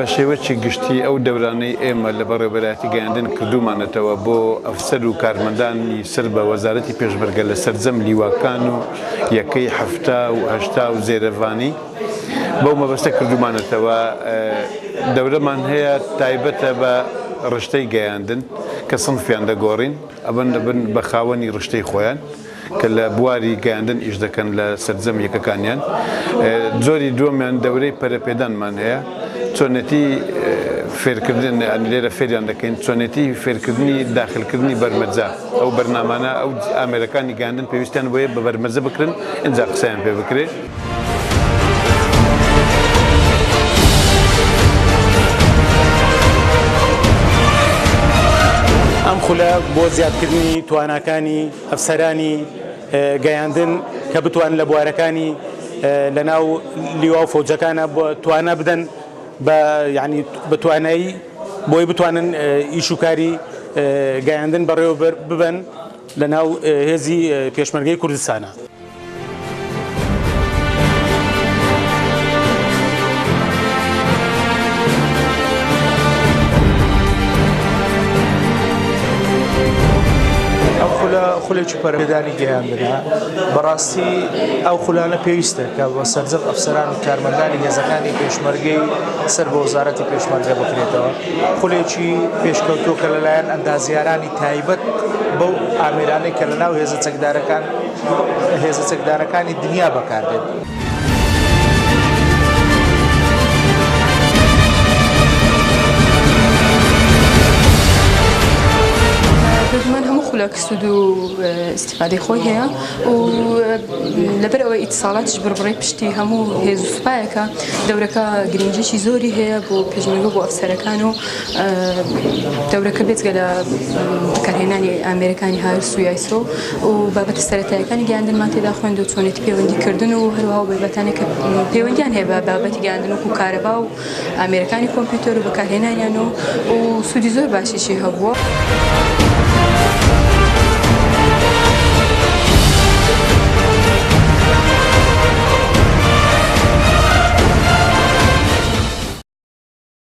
بە شێوەکی گشتی ئەو دەورانەی ئێمە لە بەڕێوەبەرایەتی گەیاندن کردوومانەتەوە بۆ ئەفسەر و کارمەندانی سەر بە وەزارەتی پێشمەرگە لە سەرجەم لیواکان و یەکەی حەفتا و هەشتا و زێرەڤانی بەو مەبەستە کردوومانەتەوە دەورەمان هەیە تایبەتە بە ڕشتەی گەیاندن کە سنفیان دەگۆڕین ئەبن بە خاوەنی ڕشتەی خۆیان. کە لە بواری گەیاندن ئیش دەکەن لە سەرجەم یەکەکانیان. جۆری دووەمیان دەورەی پەرەپێدانمان هەیە، چۆنێتی فێرکردن یانی لێرە فێریان دەکەین، چۆنێتی فێرکردنی داخلکردنی بەرمەجە، ئەو بەرنامانە ئەو ئامێرەکانی گەیاندن پێویستیان بۆیە بە بەرمەجە بکرن ئینجا قسەیان پێ بکرێ. ئەم خولە بۆ زیادکردنی تواناکانی ئەفسەرانی گەیاندن کە بتوانن لە بوارەکانی لەناو لیوا و فەوجەکانە توانا بدەن بە یعنی بە توانایی بۆی بتوانن ئیش و کاری گەیاندن بەڕێوە ببن لە ناو هێزی پێشمەرگەی کوردستانە. خولێکی پەرەدانی گەیاندرا بەڕاستی ئەو خولانە پێویستە کە بە سەرجەم ئەفسەران و کارمەندانی هێزەکانی پێشمەرگەی سەر بە وەزارەتی پێشمەرگە بکرێتەوە خولێکی پێشکەوتوکە لەلایەن ئەندازیارانی تایبەت بەو ئامرانەی کە لە ناو هێزە چەکدارەکان هێزە چەکدارەکانی دنیا بەکاردێت. دژمن هەموو خولەک سوود و استفادەی خۆی هەیە و لەبەر ئەوەی ئیتساڵاتش بڕبڕی پشتی هەموو هێز و سوپایەکە دەورەکە گرنگیی زۆری هەیە بۆ پێشمەرگە بۆ ئەفسەرەکان و دەورەکە بێجگە لە بەکارهێنانی ئامێرەکانی هاوێر سویایسۆ و بابەتە سەرەتایەکانی گەیاندنمان تێدا خوێند و چۆنێتی پەیوەندیکردن و هەروها و بابەتانێک کە پەیوەندیان هەیە بە بابەتی گەیاندن وەکو کارەبا و ئامێرەکانی کۆمپیوتەر و بەکارهێنانیان و و سوودی زۆر باشیشی هەبووە.